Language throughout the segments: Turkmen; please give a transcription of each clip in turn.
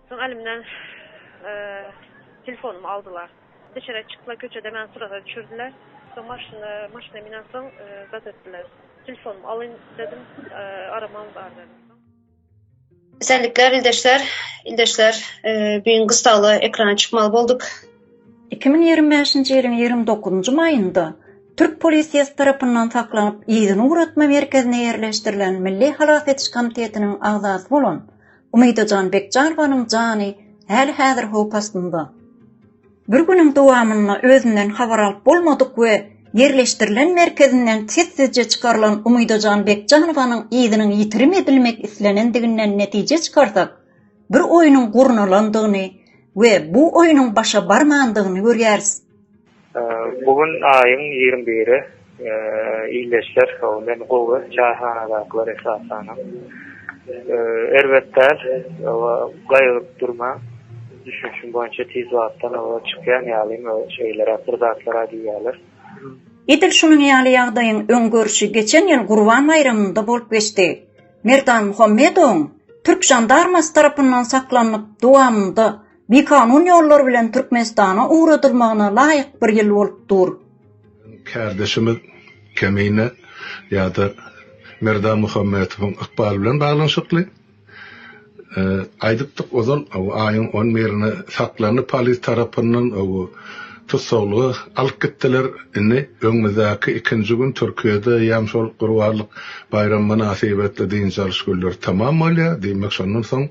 Soň elimden telefonumy aldylar. Deşere çykla köçede meni suraga düşürdiler. Soň maşyna, maşyna minen soň zat etdiler. Telefonumy alyň dedim, aram aldylar dedim. Esenlikler ildeşler. Ildeşler, bu gün gyssagly ekrana çykmaly bolduk. Iki müň ýigrimi bäşinji ýylyň ýigrimi dokuzynjy maýynda türk polisiýasy tarapyndan saklanyp, yzyny ugratma merkezine ýerleşdirilen Milli halas ediş komitetiniň agzasy bolan Umydajan Bekjanowanyň jany häli-häzir howp astynda. Bir günüň dowamynda özünden habar alyp bolmadyk we ýerleşdirilen merkezinden sessizje çykarylan Umydajan Bekjanowanyň yzynyň ýitirim edilmek islenendiginden netije çykarsak, Bir oýnuň gurnalandygyny we bu oýnuň başa barmandygyny görýäris. Bu gün aýyň ýigrimi biri. Ildeşler, hawa, men gowy, çaýhanadakylar esasanam. Erbet däl, hawa, gaýgyryp durmaň. Düşünişim boýunça tiz wagtdan oba çykýan ýalym, şeýleräk bir zatlar-a diýýärler. Edil şunuň ýaly ýagdaýyň öňgörüşi geçen ýyl Gurban baýramynda bolup geçdi. Merdan Muhammedowyň türk žandarmasy tarapyndan saklanyp, dowamynda bikanun ýollar bilen Türkmenistana ugradylmagyna laýyk bir ýyl bolup dur. Kärdeşimiz Kemine ýa-da Merdan Muhammetowyň ykbaly bilen baglanyşykly. Aýdypdyk ozal, aýyň on birine saklandy polis tarapyndan, tussaglyga alyp gitdiler. Indi öňümizdäki ikinji gün Türkiýede ýam şol Gurbanlyk baýramy mynasybetli dynç alyş günleri tamam bolýar. Diýmek, şondan soň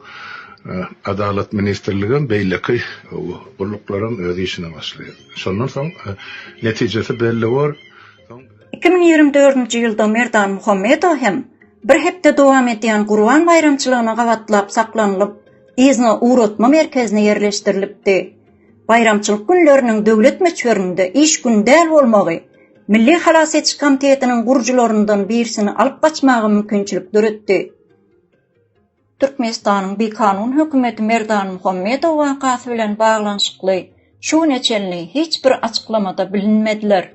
Adalat ministrligem, beýleki gulluklaram öz işine başlaýar. Şondan soň netijesi belli bor. Iki müň ýigrimi dördünji ýylda Merdan Muhammedow hem Bir hepde dowam edýän Gurban baýramçylygyna gabatlap saklanylyp, yzyna ugratma merkezine ýerleşdirilipdi. Baýramçylyk günleriniň döwlet möçberinde iş güni däl bolmagy Milli halas ediş komitetiniň gurujylaryndan birisini alyp gaçmaga mümkinçilik döretdi. Türkmenistanyň bikanun hökümeti Merdan Muhammedow wakasy bilen baglanyşykly şu güne çenli hiç bir açyklamada bilinmediler.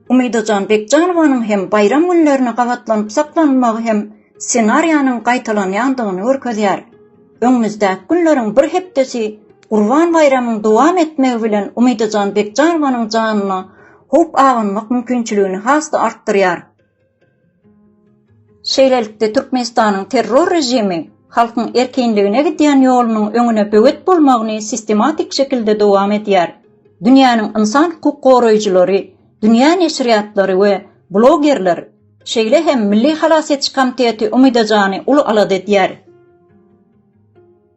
Umydajan Bekjanowanyň hem baýram günlerine gabatlanyp saklanmagy hem ssenariýanyň gaýtalanýandygyny görkezýär. Öňümizdäki günleriň bir hepdesi Gurban baýramyň dowam etmegi bilen Umydajan Bekjanowanyň janyna howp abanmak mümkinçiligini has-da artdyrýar. Şeýlelikde, Türkmenistanyň terror režimi halkyň erkinligine gidýän ýolunyň öňüne böwet bolmagyny sistematik şekilde dowam edýär. Dünýäniň ynsan hukuk goraýjylary, dünýä neşirýatlary we blogerler, şeýle hem Milli halas ediş komiteti Umyda Jany uly alada edýär.